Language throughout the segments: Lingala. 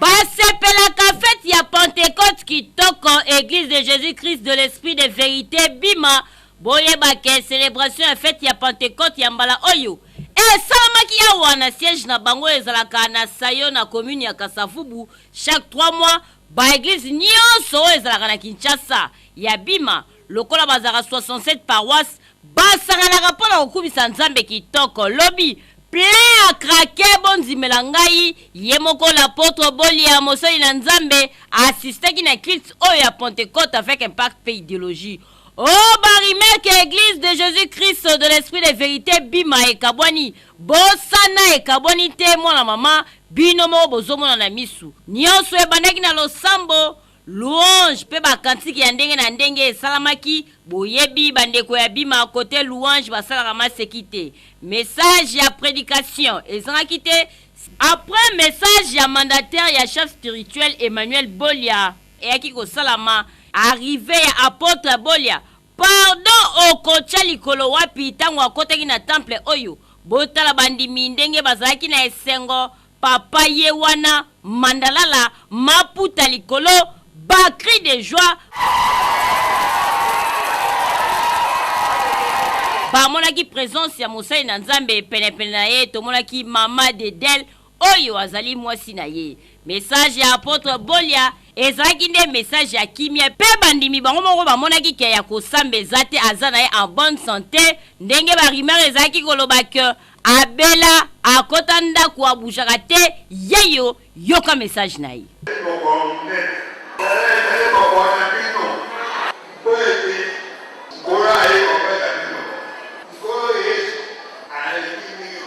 basepelaka fete ya pentecote kitoko église de jésus christ de l'esprit de vérité bima boyebake celebration ya fete ya pentecote ya mbala oyo esalamaki awa na siège na bango ezalaka na sayo na commune ya kasavubu chaque 3 mois baeglize nyonso oyo ezalaka na kinshasa ya bima Lokola bazalaka 67 paroisses, basanganaka mpo na kokumisa Nzambe kitoko. Lobi, plein à craquer, bondimela ngai, ye moko l'Apotre Bolia, mosali na Nzambe, a assistaki na culte oyo ya Pentecote avec impact mpe ideologie. Oh ba rumeurs que Eglise de Jesus Christ de l'Esprit de Verite Bima ekabwani, bosana ekabwani te mwana mama, bino moko bozomona na misu. Nionso ebandaki na losambo. Louange pe ba kantiki ya ndenge na ndenge esalamaki, boyebi ba ndeko ya bima cote louange basalaka maseki te, message ya predication ezangaki te, après message ya mandataire ya chef spirituel Emmanuel Bolia eyaki kosalama, arrivee ya apotre Bolia, Pardon okotia likolo wapi tango akotaki na temple oyo botala bandimi ndenge bazalaki na esengo papa ye wana mandalala maputa likolo ba cris de joie bamonaki presence ya mosali na nzambe penepene na ye tomonaki mama dedel Oyo azali mwasi na ye. Mesaje ya apotre Bolia ezalaki nde mesaje ya kimia mpe bandimi bango moko bamonaki que ya kosamba eza te, aza na ye en bonne sante, ndenge ba rumeurs ezalaki koloba que abela, akota ndaku, a bougeaka te, yeyo, yoka message na ye. Ezali mokolo monene. Ee, nayeba koloba na bino, mpo ete Nkolo ayei epai na bino. Nkolo Yesu alingi bino.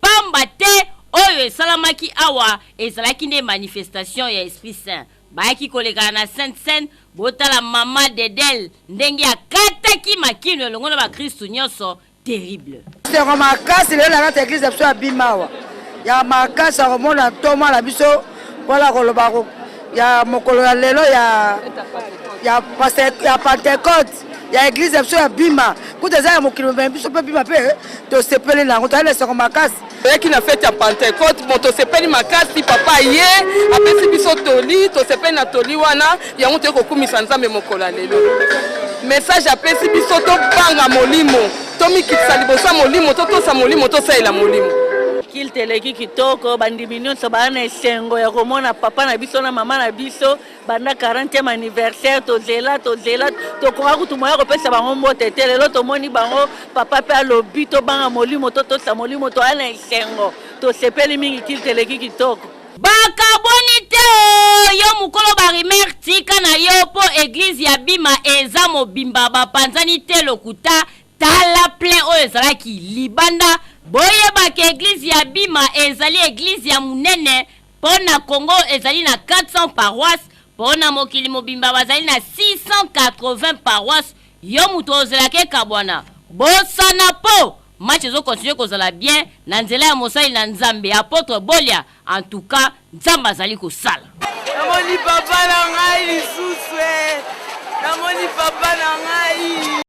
Pamba te, oyo esalamaki awa ezalaki nde manifestation ya Esprit Saint. Bayaki koleka na Sainte Seine, botala mama Dedel ndenge akataki makinu elongo na bakristu nionso, terrible. Esengo makasi lelo na kati ya eglise na biso ya Bimawa, ya makasi ya komona ntoma na biso mpona ya koloba ya mokolo ya lelo ya Pentecote. ya eglize ya biso ya bima kuta eza ya mokili mobimba biso mpe bima mpe eh, tosepeli na yango toyali na esengo makasi toyaki na fete ya pentecote bon tosepeli makasi papa ye apesi biso toli tosepeli na toli wana yango toyei kokumisa nzambe mokolo ya lelo message apesi biso tobanga molimo tomikitisa liboso ya molimo totosa molimo tosalela molimo kilte eleki kitoko bandimi nyonso baa na esengo ya komona papa na biso na mama na biso banda 40e anniversaire tozela tozela tokoka kutu moya kopesa bango mbote te lelo tomoni bango papa mpe alobi tobanga molimo totosa molimo toya na esengo tosepeli mingi kilte eleki kitoko bakabwani te o yo mokolo barimer tika na yo mpo eglize ya bima eza mobimba bapanzani te lokuta tala plein oyo ezalaki libanda boyebaka eglize ya bima ezali eglize ya monene Po na Congo ezali na 400 paroisses, po na mokili mobimba bazali na 680 paroisses, yo mutu ozelaka ekabwana? Bosana po match ezo continuer kozala bien na nzela ya mosali na Nzambe Apotre Bolia, en tout cas Nzambe azali kosala. Namoni papa na ngai lisusuee namoni papa na ngai.